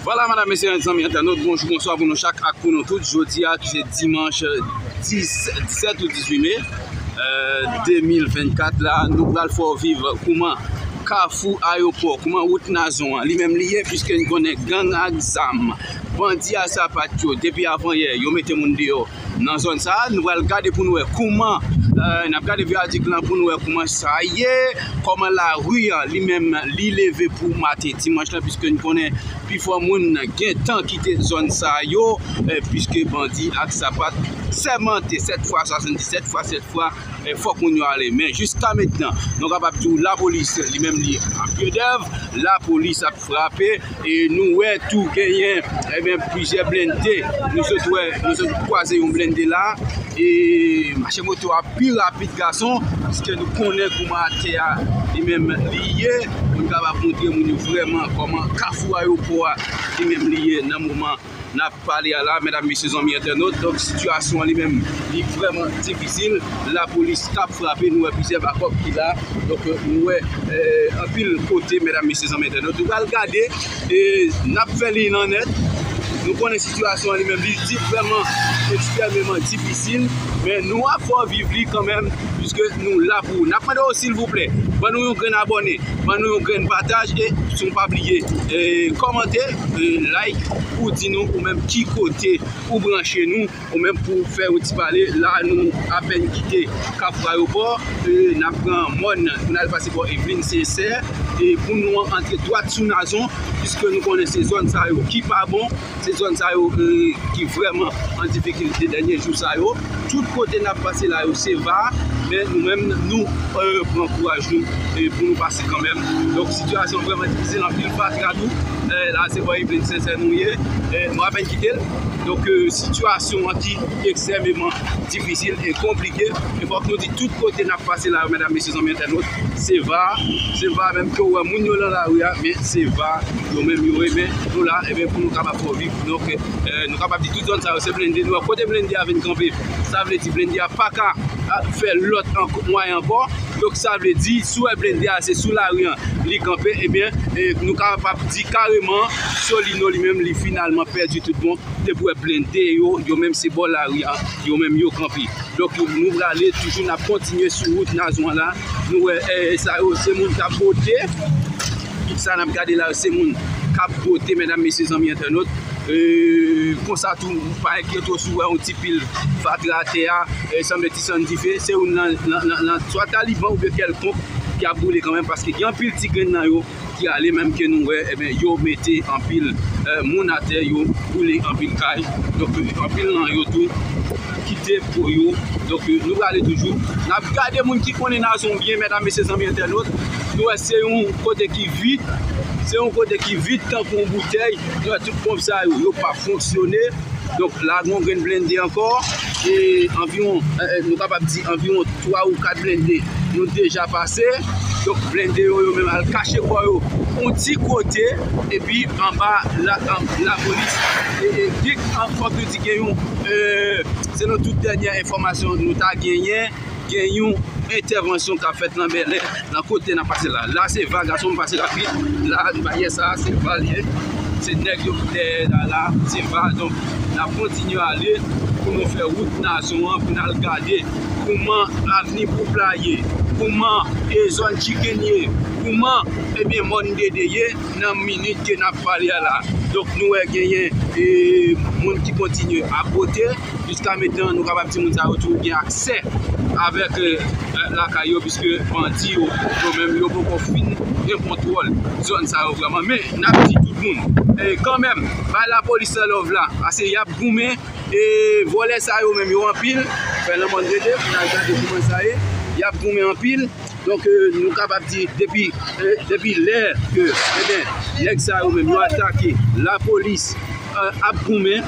Vwala madam mesye ak zanmi entènot bonjou bonswa pou nou chak ak pou nou tout jodi a ki se dimanch 17 ou 18 me 2024 la nou pral fè w viv kouman kafou ayopò kouman wout nazon an li menm li ye pwiske n konnen gang ak zam bandi a sapat yo depi avan yè yo mete moun deyò Nan zòn sa a, nou pral gade pou nou wè kouman, n ap gade viyadik lan pou nou wè kouman sa ye, kòman lari an li menm li leve pou maten dimanch lan piske n konnen pi fò moun gen tan kite zòn sa yo piske bandi ak sapat sèmante 7 fwa 77 fwa 7 fwa fòk moun yo ale men jiska mentnan nou kapab di w lapolis li menm li an pyedèv lapolis ap. frape e nou wè tou genyen ebyen plizyè blende nou sot wè nou sot kwaze yon blende la e mache moto a pi rapid gason pwiske nou konnen kouman atè a li menm li ye nou kapab montre moun yo vreman kòman kafou ayopò a li menm li ye nan moman Nap pale a la medam mesye zanmi entènot donk sitiyasyon an li menm li vrèman difisil lapolis kap frape nou wè plizyè bakòp ki la donk nou wè anpil kote medam mesye zanmi entènot nou pral gade e nap fè li nan nèt nou konnen sitiyasyon an li menm li di vrèman ekstrèmeman difisil men nou ap fè w viv li kanmenm piske nou la pou ou nap mande w silvouplè ban nou yon grenn abòne ban nou yon grenn pataj e siw pa bliye kòmante. Like pou di nou ou menm ki kote ou branche nou ou menm pou fè yon ti pale la nou apèn kite kap rayopò nap pran mòn pou nal pase bò evelin sensè e pou nou an antre dwat sou nazon piske nou konnen se zòn sa yo ki pa bon se zòn sa yo ki vrèman an difikilte dènye jou sa yo. Tout kote nap pase la yo se va, men nou menm nou pran kouraj nou pou nou pase kanmenm. Donk sitiyasyon an vrèman difisil, anpil fatra tou, la se bò Evelyn Sincère nou ye, nou apèn kite l. Donk sitiyasyon an ki ekstrèmeman difisil e konplike, e fòk nou di tout kote nap pase la yo medam mesye zanmi entènot, se va, se va menm ke ou wè moun yo lan lari a, men se va yo menm yo renmen nou la, e ben pou nou kapab fè w viv. Donk nou kapab di tout zòn sa yo se blende nou wè. Kote blende a vin kanpe, sa vle di blende a pa ka fè lòt mwayen ankò. Donk sa vle di si w wè blende a se sou lari an li kanpe ebyen nou kapab di kareman Solino li menm li finalman pèdi tout bon depi w wè blende yo, yo menm se bò lari a yo menm yo kanpe. Donk nou prale toujou n ap kontinye sou wout Nazon an la. Nou wè sa yo se moun k ap bote. Tout sa nap gade la yo se moun kap vote medam mesye zanmi entènot konsa tou pa enkyete w si w wè yon ti pil fatra atè a sanble ti sann dife se youn nan swa taliban oubyen kèlkonk ki ap boule kanmenm paske gen anpil ti grenn nan yo ki ale menm ke nou wè ebyen yo mete anpil moun atè yo boule anpil kay donk anpil nan yo tou kite po yo donk nou prale toujou nap gade moun ki konnen nazon byen medam mesye zanmi entènot. Nou wè se yon kote ki vid, se yon kote ki vid tankou yon boutèy. Nou wè tout ponp sa yo, yo pa fonksyone. Donk la gen yon grenn blende ankò. E anviwon, nou kapab di anviwon 3 ou 4 blende nou deja pase. Donk blende yo, yo menm al kache kò yo yon ti kote. Epi anba lapolis dik, fòk nou di gen yon, selon tout dènyè enfòmasyon nou ta genyen. gen yon entèvansyon k ap fèt nan Bèlè, nan kote n ap pase la. La se va, gason m pase rapid. La, baryè sa a, se va l ye. Se nèg yo ki dèyè la la, se va. Donk, n ap kontinye ale pou nou fè wout nasyon an, pou n al gade kouman avni Poupl la ye, kouman e zòn Chicken ye, kouman ebyen mòn Dede ye nan minit ke n ap pale a la. Donk, nou wè genyen e moun ki kontinye ap bote. Jiska metenan nou kapab di moun sa yo toujou gen aksè avèk lakay yo piske bandi yo yo menm yo poko fin gen kontwòl zòn sa yo vrèman men nap di tout moun kanmèm bay lapolis la love la pase yap goumen e vòlè sa yo menm yo anpil fè lanmòn rete pou nal gade kouman sa ye yap goumen anpil donk nou kapab di depi depi lè ke nèg sa yo menm yo atake lapolis ap goumen.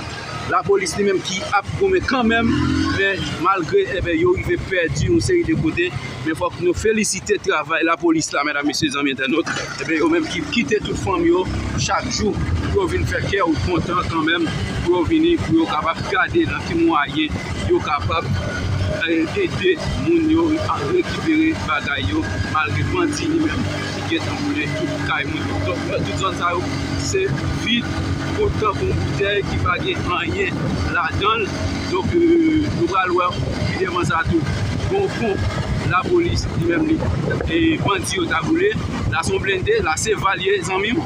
Lapolis li menm ki ap goumen kanmenm men malgre enben yo rive pèdi yon seri de kote men fòk nou felisite travay lapolis la medam mesye zanmi entènot enben yo menm ki kite tout fanm yo chak jou pou yo vin fè kè ou kontan kanmenm pou yo vini pou yo kapab gade nan ki mwayen yo kapab ede moun yo rekipere bagay yo malgre bandi li menm. ki gentan boule tout kay moun yo. Donk nan tout zòn sa yo se vid kou tankou yon boutèy ki pa gen anyen ladan l. Donk nou pral wè pi devan sa tou gon fon lapolis li menm li e bandi yo ta boule. La se yon blende, la se val ye zanmi m.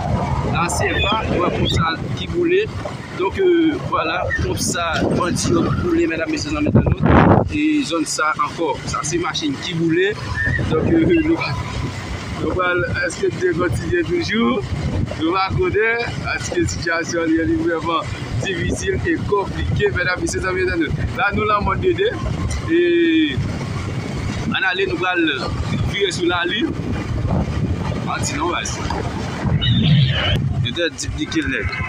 La se va, wè fon sa ki boule. Donk vwala konsa bandi yo boule medam mesye zanmi entènot e zòn sa ankò sa se machin ki boule donk nou pral eske bndye kontinye toujou nou pa konnen paske sitiyasyon li li vrèman difisil e konplike medam mesye zanmi entènot la nou lan mòn de 2 e ann ale nou pral vire sou lalin manti non baz entènot diplike nèg.